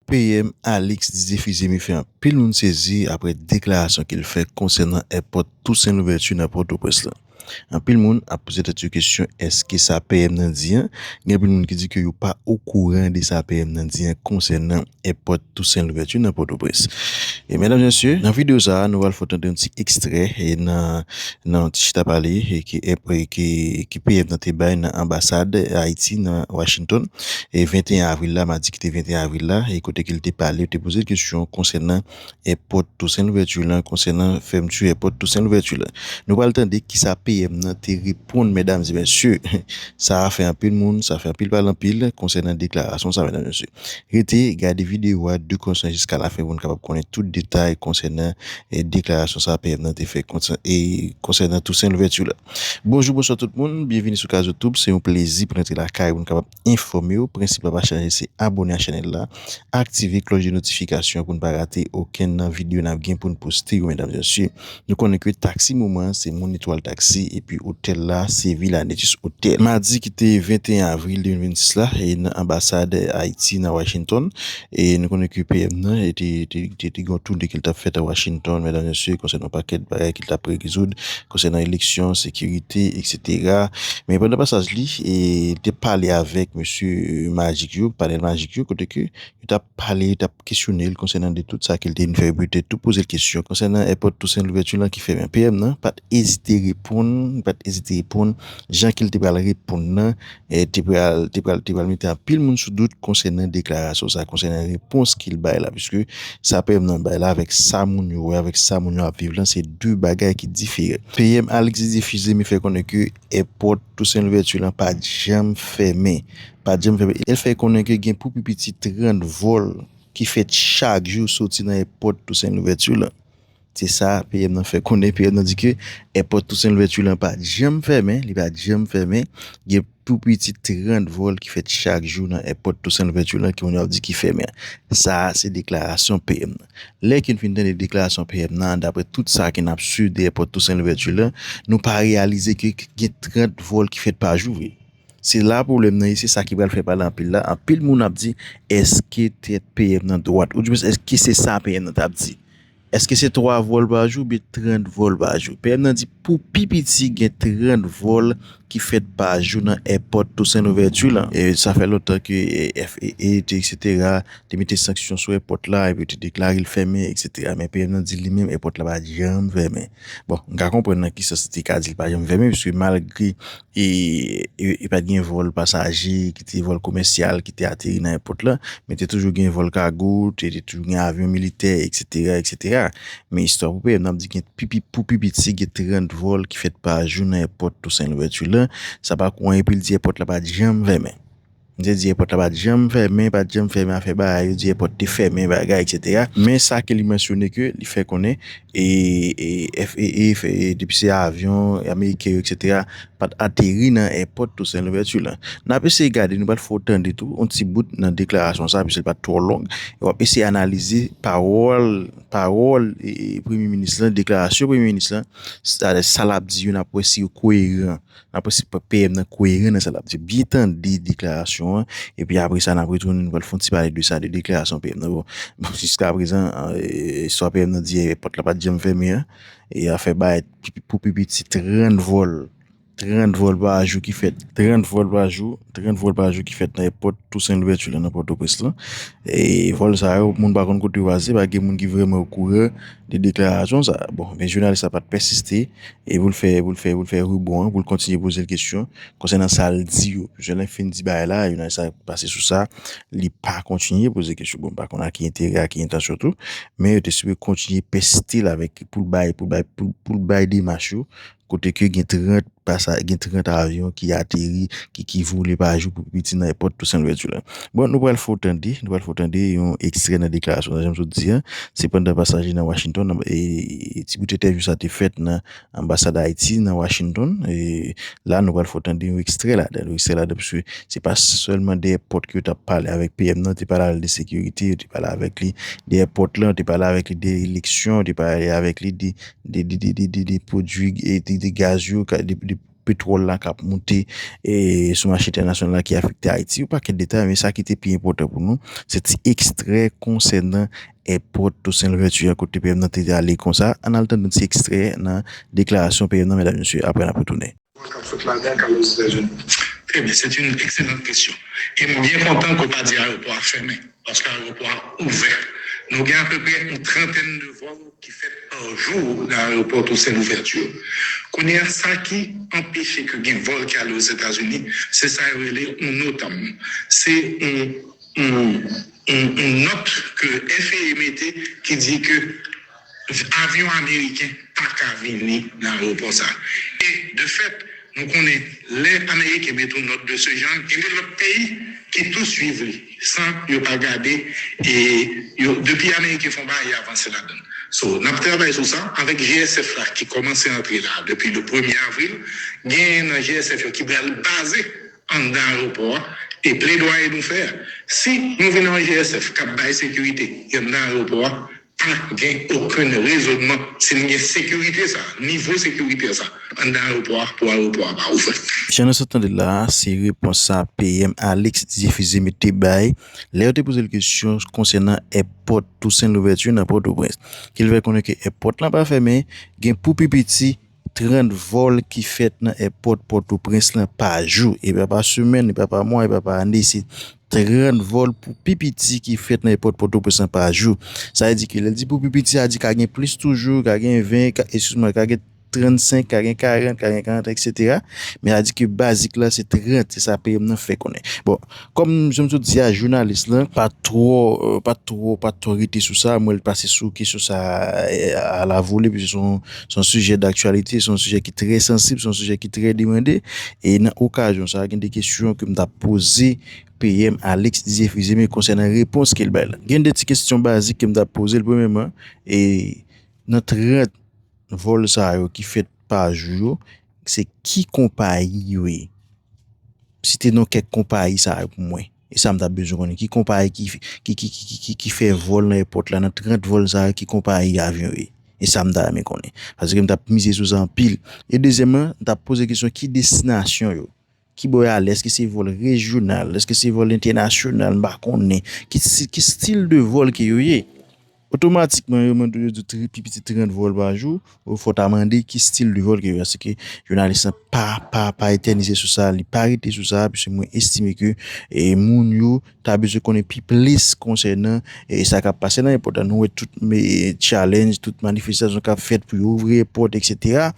PM Alix Didier Fils-Aimé fè anpil moun sezi aprè deklarasyon ke l fè konsènan èpòt Toussaint Louverture nan Pòtoprens lan. Anpil moun ap poze tèt yo kesyon èske sa PM nan di an, gen anpil moun ki di ke yo pa okouran de sa PM nan di an konsènan èpòt Toussaint Louverture nan Pòtoprens. Medam Mesye, nan videyo sa a nou pral fè w tande yon ti ekstrè nan nan yon ti chita pale ke PM nan te bay nan anbasad Ayiti nan Washington. e 21 avril la, madi ki te 21 avril la, e kote ke li te pale, yo te poze l kesyon konsènan èpòt Tousen Louvèti lan, konsènan fèmti èpòt Tousen Louvèti lan. Nou pral tande kisa PM nan te reponn medam e mesye. Sa a fè anpil moun, sa fè anpil pale anpil konsènan deklarasyon sa medam e mesye. Rete gade videyo a de konsan jiska lafen pou nou kapab konnen tout detay konsènan deklarasyon sa a PM nan te fè konsènan Tousen Louvèti lan. Bonjou bonswa tout moun, byenvini sou Kazotoub, se yon plezi pou n antre lakay ou pou n kapab enfòme w, prensip la pa chanje se abone ak chanèl la, aktive klòch de notifikasyon an pou n pa rate okenn nan videyo n ap gen pou n poste yo medam mesye. Nou konnen ke taksi moman an se moun etwal taksi epi otèl la se Villa Netis Hotel. Madi ki te 21 avril 2026 la e nan anbasad Ayiti nan Washington, E nou konnen ke PM nan te gen yon toune ke li tap fèt a Washington, medam mesye, konsènan yon pakèt bagay ke li tap rezoud, konsènan eleksyon, sekirite, eksetera. Men pandan pasaj li, li te pale avèk mesye majik yo, panèl majik yo, kote ke yo tap pale, yo tap kesyone li konsènan de tout sa ke li te vin fè. Yo petèt tou poze li kesyon konsènan èpòt Tousen Louvèti lan ki fèmen. PM nan pat ezite reponn, li pat ezite reponn jan ke li te pral reponn nan. te pral te pral te pral mete anpil moun sou dout konsènan deklarasyon sa konsènan repons ki l bay la piske sa PM nan bay la avèk sa moun yo wè avèk sa moun yo ap viv lan se 2 bagay ki diferan PM Alexis Dufils li menm fè konnen ke èpòt Toussaint Louverture lan pat janm fèmen pat janm fèmen e l fè konnen ke gen pou pi piti 30 vòl ki fèt chak jou soti nan èpòt Toussaint Louverture lan. Se sa PM nan fè konnen. PM nan di ke èpòt Toussaint Louverture lan pa janm fèmen, li pa janm fèmen. Gen pou piti 30 vòl ki fèt chak jou nan èpòt Toussaint Louverture lan ke moun yo ap di ki fèmen. Sa a se deklarasyon PM nan. Lè ke nou fin tande deklarasyon PM nan, daprè tout sa ke n ap swiv de èpòt Toussaint Louverture lan, nou pa reyalize ke gen 30 vòl ki fèt pa jou vre. Se la pwoblèm nan ye, se sa ki pral fè pale anpil la. Anpil moun ap di, èske tèt PM nan dwat? Oudimwens èske se sa PM nan t ap di? Èske se 3 vòl pa jou oubyen 30 vòl pa jou? PM nan di pou pi piti gen 30 vòl ki fèt pa jou nan èpòt Toussaint Louverture lan. Sa fè lontan ke FAA te eksetera te mete sanksyon sou èpòt la epi yo te deklare l fèmen eksetera men PM nan di li menm èpòt la pa janm fèmen. Bon, m ka konprann nan ki sans li te ka di l pa janm fèmen piske malgre E pa t gen vòl pasaje ki te vòl komèsyal ki te ateri nan èpòt la. Men te toujou gen vòl kago, te toujou gen avyon militè, eksetera, eksetera. Men istwa pou pèp nan ap di gen pou pi piti gen 30 vòl ki fèt pa jou nan èpòt Tousen Louvèti la. Sa pa kou anyen pou l di èpòt la pa t janm fèmen. M te di èpòt la pa t janm fèmen, pa t janm fèmen afè bagay yo di èpòt te fèmen bagay etsetera men sa ke li mansyone ke li fè konnen FAA depi se avyon ameriken yo etsetera pa t ateri nan èpòt Toussaint Louverture lan. N ap eseye gade nou pral fè w tande tou yon ti bout nan deklarasyon sa piske li pa t twò long e w ap eseye analize pawòl pawòl premye minis lan deklarasyon premye minis lan sa l ap di yo n ap wè si yo koyeran N ap esi pran PM nan koyeran nan sa l ap di. Byen tande deklarasyon an, epi apre sa n ap retounen nou pral fè yon ti pale de sa, de deklarasyon PM nan. Bon, jiskaprezan, istwa PM nan di yè, pòt la pa t janm fèmen an. E afè bay pou pi piti 30 vòl, 30 vòl pa jou ki fèt. 30 vòl pa jou, 30 vòl pa jou ki fèt nan èpòt Tousen Louvèti la nan Pòtoprens lan. E vòl sa yo, moun pa konn kote yo pase, pa gen moun ki vrèman okouran de deklarasyon sa a. Bon, men jounalis la pa t pèsiste e pou l fè, pou l fè, pou l fè ribon an, pou l kontinye poze l kesyon konsènan sa l di yo. Plizyè lè fin di bagay la, jounalis la pase sou sa, li pa kontinye poze kesyon. Bon, m pa konn ak ki enterè, ak ki entansyon tou, men yo te sipoze kontinye pèsiste l avèk, pou l bay, pou l bay, pou l bay demach yo kote ke gen 30 pasa gen 30 avyon ki ateri ki ki vole pa jou pou pi piti nan èpòt Toussaint Louverture la bon nou pral fè w tande nou pral fè w tande yon ekstrè nan deklarasyon sa jan m sot di an se pandan pasaje nan Washington e ti bout entèvyou sa te fèt nan anbasad Ayiti nan Washington e la nou pral fè w tande yon ekstrè ladan l yon ekstrè ladan l pske se pa sèlman dèyè pòt ke yo t ap pale avèk PM nan yo te pale avèk l de sekirite yo te pale avèk li dèyè pòt lan yo te pale avèk li de eleksyon yo te pale avèk li de de pwodui de gaz yo, de petwòl la kap moute sou mache entènasyonal la ki afekte Ayiti, yon pakèt detay men sa ki te pi enpòtan pou nou se ti ekstrè konsènan èpòt Toussaint Louverture kote PM nan te ale konsa, ann al tande ti ekstrè nan deklarasyon PM nan mèdam mesye apre n ap retounen. Kòman kap fèt lage ak alòs Etazini? Très bien, c'est une excellente question e m byen kontan ke w pa di ayewopò a fèmen paske ayewopò a ouvè. Nou gen apeprè yon trantèn de vòl ki fèt par jour nan ayewopò Toussaint Louverture. Kounye a sa ki anpeche ke gen vòl ki ale Ozetazini se sa yo rele yon NOTAM. Se yon yon yon nòt ke FAA mete ki di ke. Avyon ameriken pa ka vini nan aewopò sa. E de fèt, nou konnen lè ameriken met yon nòt de se janr, genbe lòt peyi ki tou swiv li san yo pa gade e yo depi ameriken fon bagay y avanse ladann. So, n ap travay sou sa avèk GSF la ki kòmanse antre la depi le premye avril. Genyen nan GSF yo ki pral baze anndan aewopò a e pledwaye nou fè a, si nou vin nan yon GSF k ap bay sekirite anndan aewopò a, Pa gen okenn rezonman si nou gen sekirite sa, nivo sekirite sa anndan ayewopò a pou ayewopò a pa ouvè. Jan nou sot tande la a, se repons sa PM Alix Dife Zeme te bay lè yo te poze l kesyon konsènan èpòt Tousen Louvèti nan Pòtoprens. Ke l fè konnen ke èpòt lan pa fèmen, gen pou pi piti, 30 vòl ki fèt nan èpòt Pòtoprens lan pa jou, e pa pa semèn, e pa pa mwa, e pa pa ane, se 30 vòl pou pi piti ki fèt nan èpòt Pòtoprens lan pa jou. Sa vle di ke lè l di pou pi piti, sa vle di ka gen plis toujou, ka gen 20, ka, eskiz mwen, ka gen 35, ka gen 40, ka gen 41 eksetera, men sa vle di ke bazik la se 30, se sa PM nan fè konnen. Bon, Kòm jan m sot di a jounalis lan pa twò pa twò pa twò rete sou sa mwen l pase sou kesyon sa a la vole pise se yon sijè daktyalite se yon sijè ki trè sansib se yon sijè ki trè demande e nan okazyon sa a gen de kesyon ke m ta poze PM Alix Didier Fils-Aimé konsènan repons ke l bay la gen de ti kesyon bazik ke m ta poze l premyèman e nan 30 vòl sa yo ki fèt pa jou yo Se ki konpayi yo ye? Site non kèk konpayi sa yo pou mwen. E sa m ta bezwen konnen. Ki konpayi ki fè vòl nan èpòt la? Nan 30 vòl sa yo, ki konpayi avyon yo ye? E sa m ta renmen konnen. Paske m ta mize sou sa anpil. E dezyèman, m ta poze kesyon ki destinasyon yo? Ki bò y ale? Èske se vòl rejyonal? Èske se vòl entènasyonal? M pa konnen. Ki stil de vòl ke yo ye? Otomatikman, yo mande yo di pi piti 30 vòl pa jou. Ou fò ta mande ki stil de vòl ke yo ye. Asike, jounalis la pa, pa, pa etènize sou sa. Li pa rete sou sa. Piske mwen estime ke moun yo ta bezwen konnen pi plis konsènan sa k ap pase nan èpòt la. Nou wè tout challenge, tout manifestasyon k ap fèt pou yo ouvri èpòt, eksetera.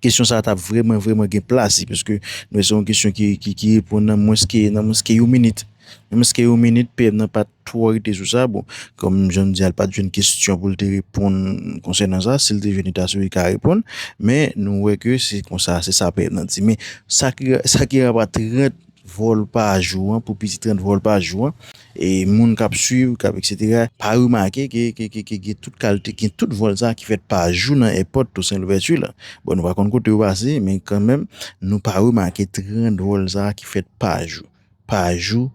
kesyon sa ta vreman vreman gen plas li paske nou wè se yon kesyon ki ki reponn nan mwens ke nan mwens ke yon minit nan mwens ke yon minit PM nan pat twò rete sou sa bon kòm jan nou di a l pat jwenn kesyon pou l te reponn konsènan sa si l te jwenn li ta sou li ka reponn men nou wè ke se konsa se sa PM nan di men sa ki sa ki anba 30 Vol pa jou an pou piti 30 vol pa jou an e moun kap swiv kap etc pa remake ke ke gen tout kalte gen tout vol sa ki fèt pa jou nan èpòt Toussaint Louverture la bon nou pa konn kote yo pase men kanmenm nou pa remake 30 vol sa ki fèt pa jou pa jou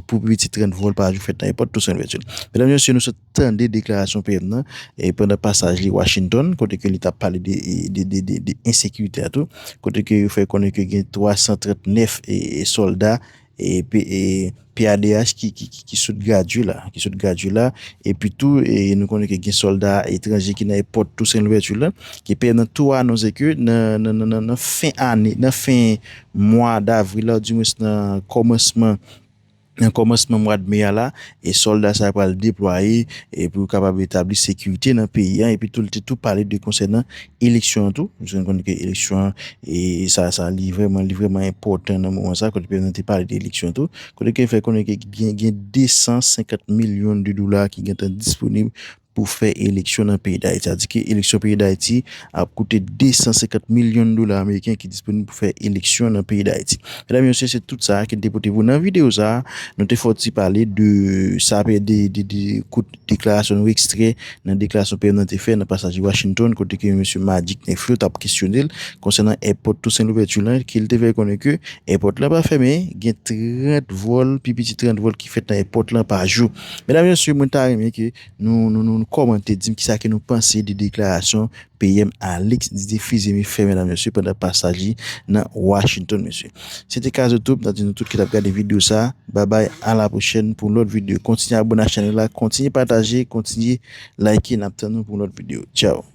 pou piti 30 vol pa jou fèt nan èpòt Toussaint Louverture medam mesye nou sot tande deklarasyon PM nan pandan pasaj li Washington kote ke li tap pale de ensekirite a tou kote ke yo fè konnen ke gen 339 solda PADH ki sot gradye la ki sot gradye la epi tou nou konnen ke gen solda etranje ki nan èpòt Toussaint Louverture la ke PM nan tou anonse ke nan fen ane nan fen mwa davril la ou di mwens nan kòmansman Nan kòmansman mwad me a la, sòlda sa yo pral deplwaye pou yo kapab etabli sekirite nan peyi an, epitou li te tou pale de konsènan eleksyon an tou, nou konnen ke eleksyon an sa sa li vrèman li vrèman enpòtan nan moman sa, kote prezidan te pale de eleksyon tou, kote ke li fè konnen ke gen 250 milyon de dola ki gentan disponib. pou fè eleksyon nan peyi Dayiti. Sa vle di ke eleksyon peyi Dayiti ap koute 250 milyon dola ameriken ki disponib pou fè eleksyon nan peyi Dayiti. Medam e mesye, se tout sa a ki n te pote pou w nan videyo sa a. Nou te fè yon ti pale de sa pè de kout deklarasyon nou ekstrè nan deklarasyon PM nan te fè nan pasaj li Washington kote ke mesye Majdi Knèf yo t ap kesyone l konsènan èpòt Tousen Louvèti lan ke l te fè konnen ke èpòt lan pa fèmen gen 30 vòl pi piti 30 vòl ki fèt nan èpòt lan pa jou. Medam mesye mwen ta renmen ke nou komante dim kisa ke nou panse de deklarasyon PM Alix Didier Fils-Aimé fè medam mesye pandan pasaj li nan Washington mesye. Se te Kazo Tube nan di nou tout ki tap gade video sa babay a la pwochèn pou lòt video kontinye abone ak chanèl la kontinye pataje kontinye like nap tann nou pou lòt video tchao.